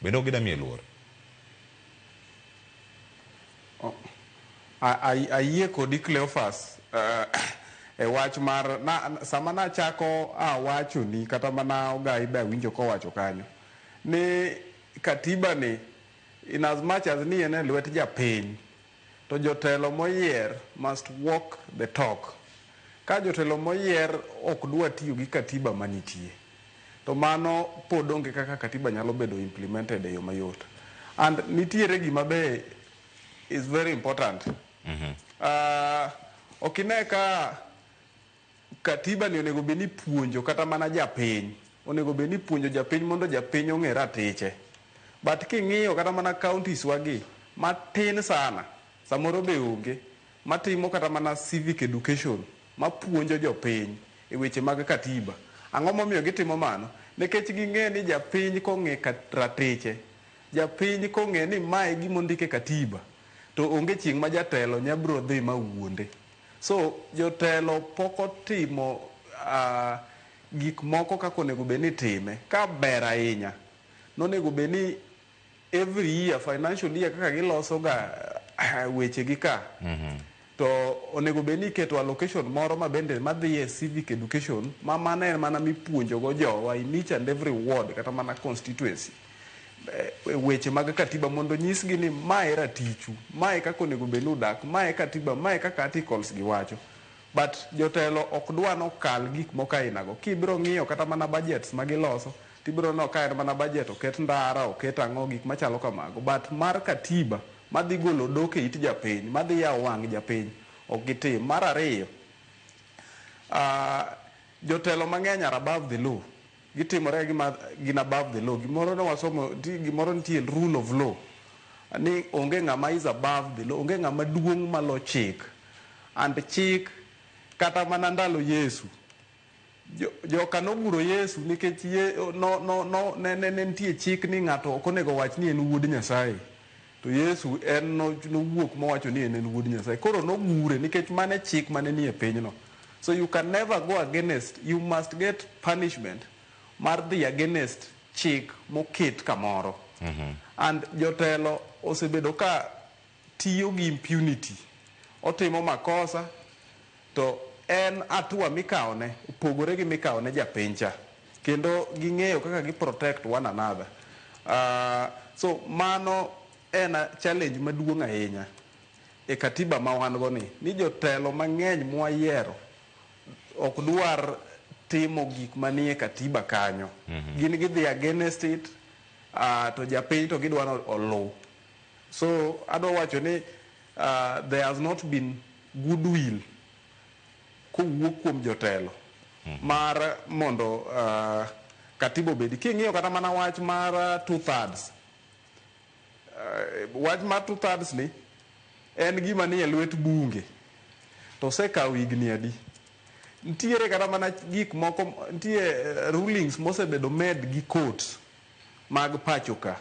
Bende ok gidwa miye luor. Ayie kodi Cleophas e wach mar na sama nachako awachoni kata mana Ogai be awinjo kowacho kanyo ni Katiba ni in as much as ni en e lwet japiny To jotelo moyier must walk the talk. Ka jotelo moyier ok dwa tiyo gi Katiba manitie, to mano pod onge kaka Katiba nyalo bedo implemented e yo mayot. And nitiere gima be is very important. Uh, ok ine ka Katiba ni onego bed ni puonjo kata mana japiny, onego bed ni puonjo japiny mondo japiny ong'e ratiche. But king'iyo kata mana counties wa gi, matin sana, samoro be onge, matimo kata mana civic education, mapuonjo jopiny e weche mag Katiba. Ang'o momiyo gitimo mano? Nekech ging'e ni japiny kong'e ratiche, japiny kong'e ni ma e gima ondik e Katiba, to onge chieng' ma jatelo nya biro dhi ma wuonde. So jotelo pok otimo gik moko kaka onego bed ni itime. Ka ber ahinya, nonego bed ni every year, financial year kaka giloso ga weche gi ka, mhm. to onego bed ni iketo allocation moro ma bende madhi e civic education ma mano en mana mipuonjogo jowa in each and every ward kata mana constituency. weche mag katiba mondo nyisgi ni ma e ratichu, ma e kaka onego bed ni udak, ma e katiba, ma e kaka articles gi wacho. But jotelo ok dwa ni okal gik moko ainago. Kibiro ng'iyo kata mana budgets ma giloso, tibiro neno ka en mana budget oket ndara, oket ang'o, gik machalo kamago. But mar katiba madhi golo odok e it japiny, madhi yawo wang' japiny, ok gitim. Mar ariyo, jotelo mang'eny are above the law. Gitimore gi ma gin above the law. Gimoro ne wasomo, nitie gimoro nitie rule of law. Ni onge ng'ama is above the law, onge ng'ama duong' malo chik. And chik kata mana ndalo Yesu, jo, joka noguro Yesu nikech ye, no, no, no, ne, ne, ne nitie chik ni ng'ato ok onego wach ni en wuod Nyasaye. To Yesu en no- nowuok mowacho ni en en wuod Nyasaye. Koro nogure nikech mane chik mane nie pinyno. So you can never go against, you must get punishment mar dhi against chik moket kamoro. And jotelo osebedo ka tiyo gi impunity. Otimo makosa, To en atua mikawone opogore gi mikawone japiny cha kendo ging'eyo kaka gi protect one another so mano en challenge maduong' ahinya e katiba ma wan go ni ni jotelo mang'eny mwayiero ok dwar timo gik manie katiba kanyo gin gidhi against it to japiny to gidwa ni oluw so adwa wacho ni there has not been goodwill kowuok kuom jotelo mar mondo uh, katiba obedi. King'iyo kata mana wach mar uh, two thirds uh, wach mar two thirds ni en gima nie lwet bunge to osekawo higni adi ntiere kata mana gik moko ntie eh, rulings mosebedo med gi courts mag pacho ka